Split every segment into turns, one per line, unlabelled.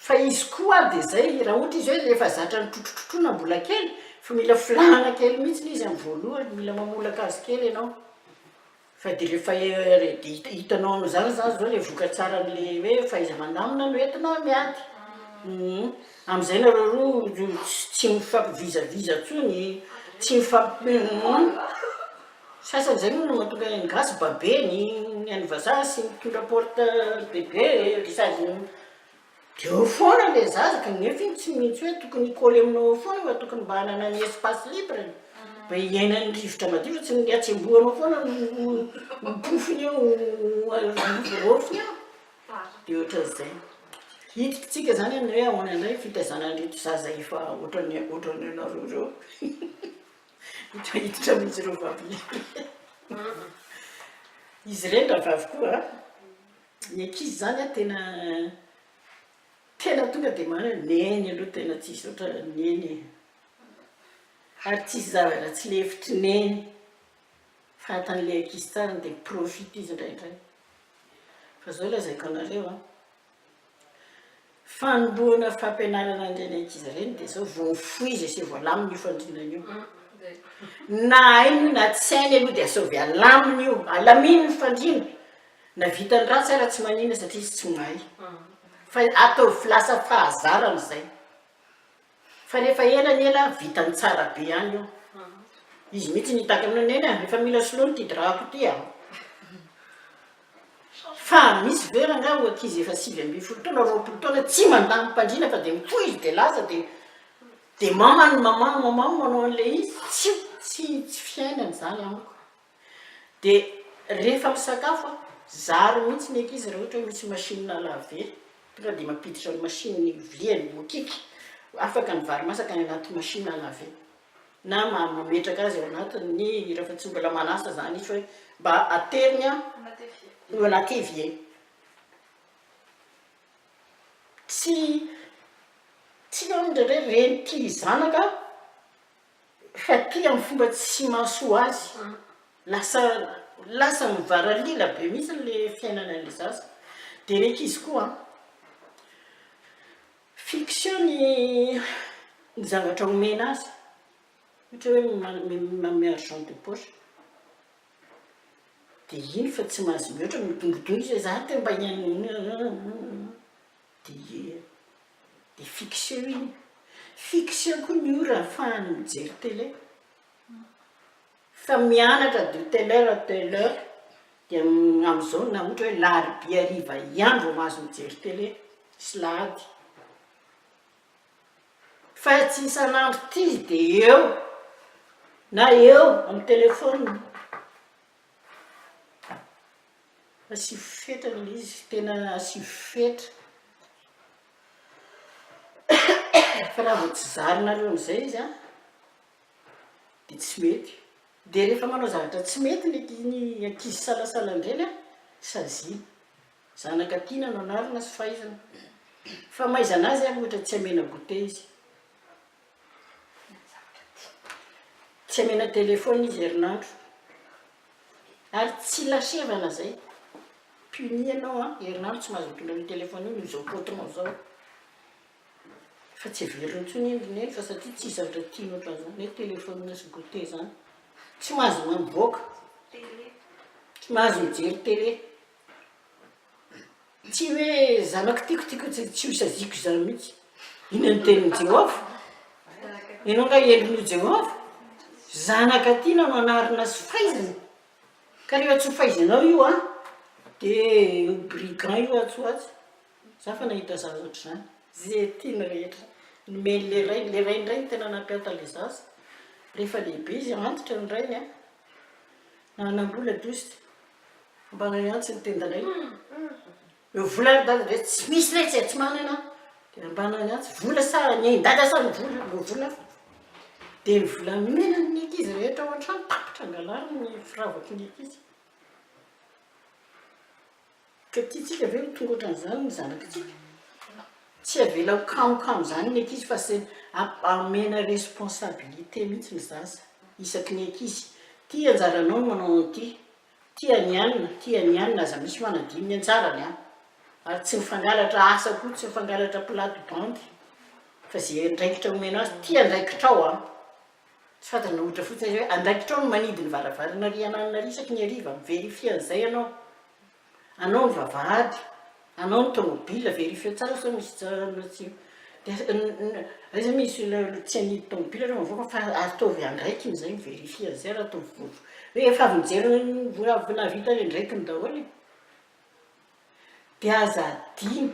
Fa izy koa ary dia izay, raha ohatra izy hoe efa zatra nitrotrotrotroina mbola kely, fa mila filàna kely mihitsy izy amin'ny voalohany, mila mamolaka azy kely ianao, fa dia rehefa hitanao an'izany izany izao ilay vokatsaran'ilay hoe fahaiza-mandamina no entina miady, amin'izay nareo roa tsy mifampi-vizaviza intsony, tsy mifampi-, Sasany izay moa no mahatonga ny gasy babe ny an'ny vazaha sy mitondra porte bebe ry sady dia eo foana ilay zaza kanefa iny tsy mihintsy hoe tokony hi-coller aminao eo foana fa tokony mba hanana ny espace libre-ny mba hiainan'ny rivotra madio fa tsy ny hatsembohanao foana no pofony eo no raofiny eo dia ohatran'izay. Hiditrintsika izany amin'ny hoe ahoana indray ny fitaizana an'ireto zaza efa ohatran'ny ohatran'ny anareo ireo. Hita hiditra mihitsy ireo vavy lehibe. Izy ireny rahavavy koa an! Ny ankizy izany an tena tena tonga dia manana hoe neny aloha tena tsisy ohatra ny neny e! Ary tsisy zava-dratsy lefitry neny. Fahatan'ilay ankizy tsara dia mi-profite izy indraindray. Fa izao lazaiko anareo an! Fanombohana fampianarana an'ireny ankizy ireny dia izao, vao mifoizy asia voalamina io fandrinana io, na hainy io na tsy hainy aloha dia asaovy alamina io, alamino ny fandriana, na vitany ratsy ara tsy manina satria izy tsy mahay, fa ataovy lasa fahazarana izay. Fa rehefa ela ny ela vitany tsara be any io. Izy mihitsy nitaky aminao Neny a, efa mila soloina ity drap-ko ity a. Fa misy ve rangahy ho ankizy efa sivy ambin'ny folo taona, roapolo taona tsy mandamin-pandriana fa dia mipoizy dia lasa dia dia mamany mamany mamany manao an'ilay izy, tsy tsy fiainana izany amiko. Dia rehefa misakafo an, zary mihitsy ny ankizy raha ohatra hoe misy machine à laver, tonga dia mampiditra ny machine ny vilia ny bokika, afaka ny vary masaka any anaty machine à laver. Na mametraka azy ao anatin'ny, rehefa tsy mbola manasa izany izy fa hoe mba ateriny ao anaty evier. Tsy, tsy eo ny indraindray reny tia zanaka an. Faty amin'ny fomba tsy mahasoa azy. Lasa lasa mivaralila be mihitsy ilay fiainana ilay zaza. Dia ilay ankizy koa an. Fiction ny ny zavatra omena azy. Ohatra hoe manome manome argent de poche. Dia iny fa tsy mahazo mihoatra, midongodongo izy hoe za te mba hihainoana. Dia ie a! Dia fixeo iny a! Fixeo koa ny ora ahafahany mijery télé. Fa mianatra de telle heure à telle heure, dia amin'izao na ohatra hoe larobia hariva ihany vao mahazo mijery télé sy lahady. Fa tsy isan'andro tia dia eo na eo amin'ny téléphone. Asivo fetra ilay izy, tena asivo fetra fa raha vao tsy zarinareo amin'izay izy an dia tsy mety, dia rehefa manao zavatra tsy mety ny anki ny ankizy salasalan-dreny an saziana, zanaka tiana no anarina sy fahaizana, fa mahaizana azy ary ohatra tsy amena goûter izy. Tsy amena telephone izy herinandro ary tsy lasevana zay puni ianao an herinandro tsy mahazo mitondra an'io telephone io noho izao pot nao zao fa tsy heveriny tsony iny ry neny fa satria tsy zavatra tiany otran'izany hoe telephone sy goute zany tsy mahazo mamiboaka tsy mahazo mijery tele Tsy hoe zanako tiako, tiako tsy tsy ho saziako izany mihitsy. Inona no tenin'i Jehovah? Ianao angaha endrin'i Jehovah? Zanaka tiana no anarina sy faizina. Ka rehefa tsy ho faizanao io an, dia io brigand io atsy ho atsy. Izaho efa nahita zaza ohatr'izany. Izay tiany rehetra nomen'ilay rainy. Ilay rainy indray no tena nampianto an'ilay zaza. Rehefa lehibe izy, antitra ny rainy an, nanam-bola dositra. Ambanay antsy ny tendanay. Eo vola ry dada ve tsy misy letsy e, tsy manana ianao. Dia ambanany antsy, vola sa ny ain-dada sa ny vola, eo vola fa. Dia ny volamenany ny ankizy rehetra ao an-trano tapitra angalariny ny firavaky ny ankizy. Ka tiantsika ve ho tonga ohatran'izany ny zanakitsika? Tsy avela ho kamo kamo zany ny ankizy fa samy amena responsabilité mihitsy ny zaza isaky ny ankizy ty anjaranao ny manao an'ity ty an'i an ty an'i an aza misy manadino ny anjarany an ary tsy mifangalatra asa koa tsy mifangalatra plate bandy fa ze andraikitra omena azy ty andraikitrao an tsy fantatrao ohatra fotsiny hoe andraikitrao ny manidy ny varavarana riananina isaky ny hariva mi-verifier an'izay ianao Anao ny vavahady, anao ny tomobila, verifieo tsara sao misy tsara na tsy dia aiza misy ilay tsy anidy tomobila raha mivoaka fa ataovy andraikiny izay mi-verifie an'izay raha toa vovo rehefa avy nijery avy nahavita ny andraikiny daholo e! dia aza adino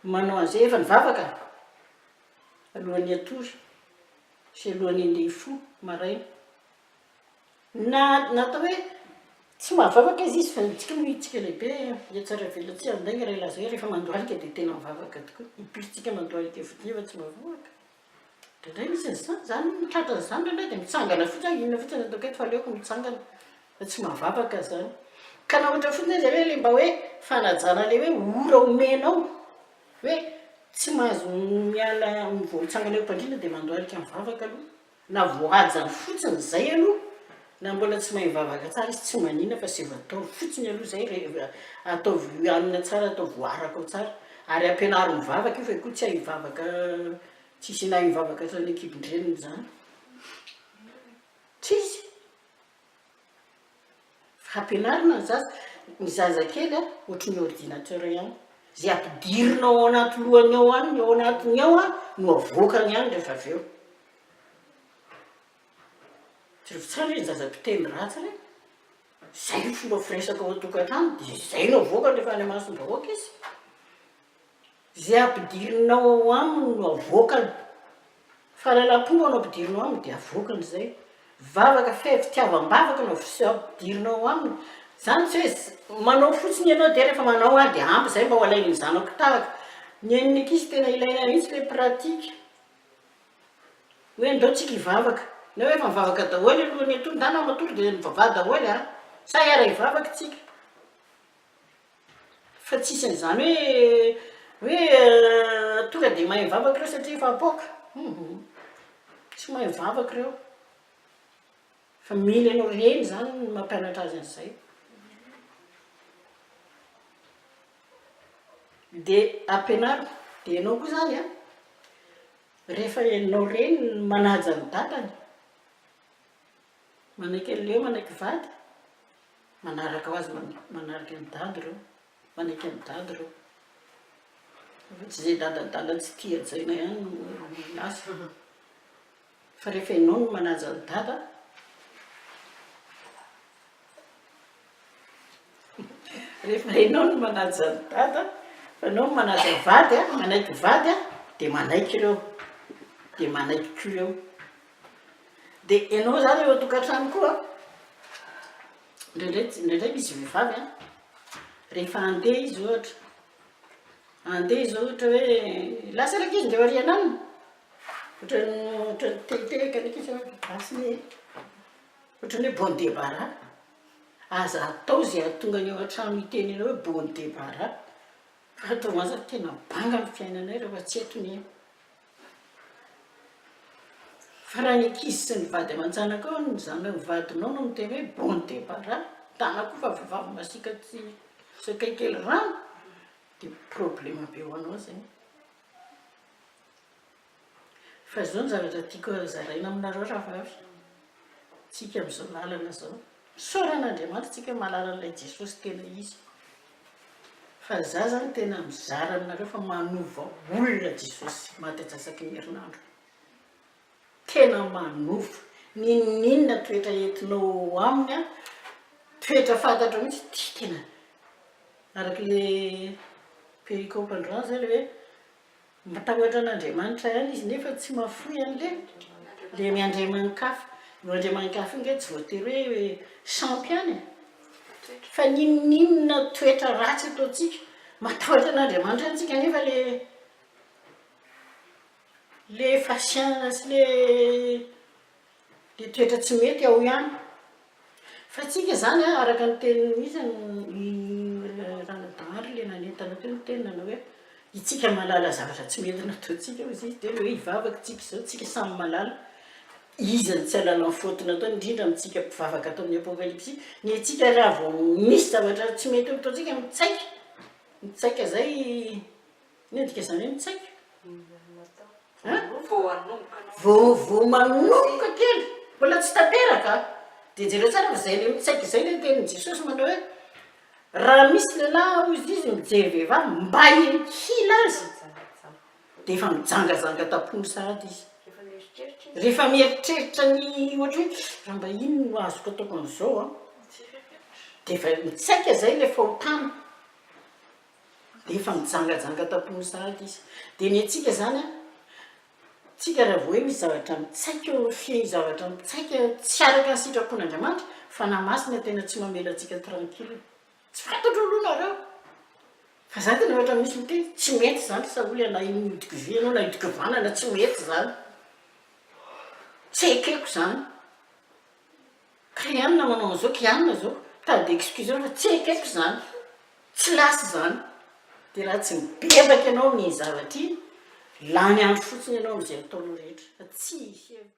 manao an'izay, efa nivavaka alohan'ny hatory sy alohan'ny handeha hifoha maraina. Na natao hoe tsy mahavavaka izy izy fa ny tsika moa itsika lehibe dia tsara velona tsy handainga raha ilazay rehefa mandohalika dia tena mivavaka tokoa ny pirintsika mandohalika fotsiny nefa tsy mivavaka indraindray misy an'izany izany ny tratra an'izany indraindray dia mitsangana fotsiny hoe inona fotsiny no ataoko eto fa aleoko mitsangana fa tsy mahavavaka izany ka na ohatra fotsiny aza hoe le mba hoe fanajana le hoe ora omenao hoe tsy mahazo miala voamitsangana eo am-pandriana dia mandohalika mivavaka aloha Na voahajany fotsiny izay aloha na mbola tsy mahay mivavaka tsara izy tsy manina fa seza ataovy fotsiny aloha izay rehefa ataovy hanina tsara ataovy voaraka ao tsara ary ampianaro mivavaka io fa io koa tsy hay hivavaka tsisy nahay nivavaka hatrany ankibon-dreniny izany tsisy Ampianarina ny zaza, ny zazakely a, ohatry ny ordinateur ihany, zay ampidirina ao anaty lohany ao any, ny ao anatiny ao a, no avoakany ihany rehefa avy eo. Jereo tsara re ny zaza mpiteny ratsy re, zay ny fomba firesaka ao an-tokantrano, dia zay no avoakany rehefa any imasom-bahoaka izy. Izay ampidirinao ao aminy no avoakany. Fa lalam-po no ampidirinao aminy dia avoakany izay. Vavaka feno fitiavam-bavaka no ampidirinao ao aminy. Izany tsy hoe manao fotsiny ianao dia rehefa manao ary dia ampy izay mba ho alain'ny zanako tahaka. Ny an'ny ankizy tena ilaina mihitsy ilay pratique. Hoe andao tsika hivavaka. Na hoe efa mivavaka daholo aloha ny antonona na matory dia mivavaha daholo an! Sa hiara-hivavaka tsika. Fa tsy isan'izany hoe, hoe tonga dia mahay mivavaka ireo satria efa apoaka. Hum. Tsy mahay mivavaka ireo. Fa mila ianao reny izany no mampianatra azy an'izay. Dia ampianaro. Dia ianao koa izany an, rehefa ianao reny no manaja ny dadany, Manaiky an'ilay hoe manaiky vady, manaraka ho azy manaraka an'i dada ireo, manaiky an'i dada ireo. Fa tsy izay dadadada tsy tia hajaina ihany no miasa. Fa rehefa ianao no manaja an'i dada, rehefa ianao no manaja an'i dada, fa ianao no manaja vady, manaiky vady dia manaiky ireo, dia manaiky koa ireo. Dia ianao izany eo an-tokantrano koa, indraindray indraindray misy vehivavy an, rehefa handeha izy ohatra, handeha izy ohatra hoe lasa ny ankizy ndry ao aoriana any, ohatran'ny ohatran'ny tehitehika ny ankizy hoe basy e, ohatran'ny hoe bon debarra, aza atao izay hahatonga ny ao an-trano hiteny anao hoe bon debarra fa ataovy an'izany, tena banga ny fiainanay rehefa tsy eto ny aina. Fa raha ny ankizy sy ny vady aman-janakao no mizana ny vadinao no miteny hoe bon debarra, tana koa fa vehivavy masiaka tsy sakay kely rano dia problema be ho anao zay. Fa izao ny zavatra tiako zaraina aminareo rahavavy, tsika amin'izao lalana izao, misaora an'Andriamanitra tsika mahalala an'ilay Jesosy tena izy. Fa za zany tena mizara aminareo fa manova olona Jesosy maty atsasaky ny herinandro. Tena manova. Ninoninona toetra entinao ao aminy an, toetra fantatrao mihitsy ity tena araka le pericope androany zay le hoe, Matahotra an'Andriamanitra ihany izy nefa tsy mahafoy an'le le ny andriamani-kafa. Io andriamani-kafa io nge tsy voatery hoe sampy ihany e! Fa n'inon'inona toetra ratsy ataontsika, matahotra an'Andriamanitra ihany tsika nefa le le fahasiahana sy le. Dia toetra tsy mety ao ihany. Fa tsika izany an, araka ny teniny mihitsy ny ranadahaly ilay nanentana teo ny teny nanao hoe, itsika mahalala zavatra tsy mety nataontsika hozy izy, dia hoe hivavaka tsika izao, tsika samy mahalala, iza no tsy hahalala ny faute nataony, indrindra amintsika mpivavaka ato amin'ny apokalypsy, ny antsika raha vao misy zavatra tsy mety nataontsika mitsaika, mitsaika izay. Mendrika izany hoe mitsaika? Voa manomboka kely, mbola tsy tanteraka an! Dia jereo tsara fa izay ilay mitsaika izay ilay tenin'i Jesosy manao hoe, raha misy lehilahy, hoy Izy, mijery vehivavy mba hila azy, dia efa mijangajanga tam-pony sahady izy. Rehefa mieritreritra ny ohatra hoe, raha mba inona no azoko ataoko an'izao an? Dia efa mitsaika izay ilay fahotana. dia efa mijangajanga tampono sahady izy. Dia ny antsika izany an, antsika raha vao hoe misy zavatra mitsaika eo amin'ny fihai, zavatra mitsaika tsy araka ny sitrapon'Andriamanitra, Fanahy Masina tena tsy mamela antsika tranquille. Tsy fantatro aloha nareo, fa za tena ohatra misy miteny, tsy mety izany sa hoy ana iny nihodikivi ianao na hidikivana na tsy mety izany, tsy ekeko izany. Kiana manao an'izao, kiana zao, tady excuseo fa tsy ekeko zany, tsy lasa zany, de raha tsy mibebaka ianao amin'ny zavatra iny, lany andro fotsiny ianao amin'izay ataonao rehetra fa tsy hisy hery.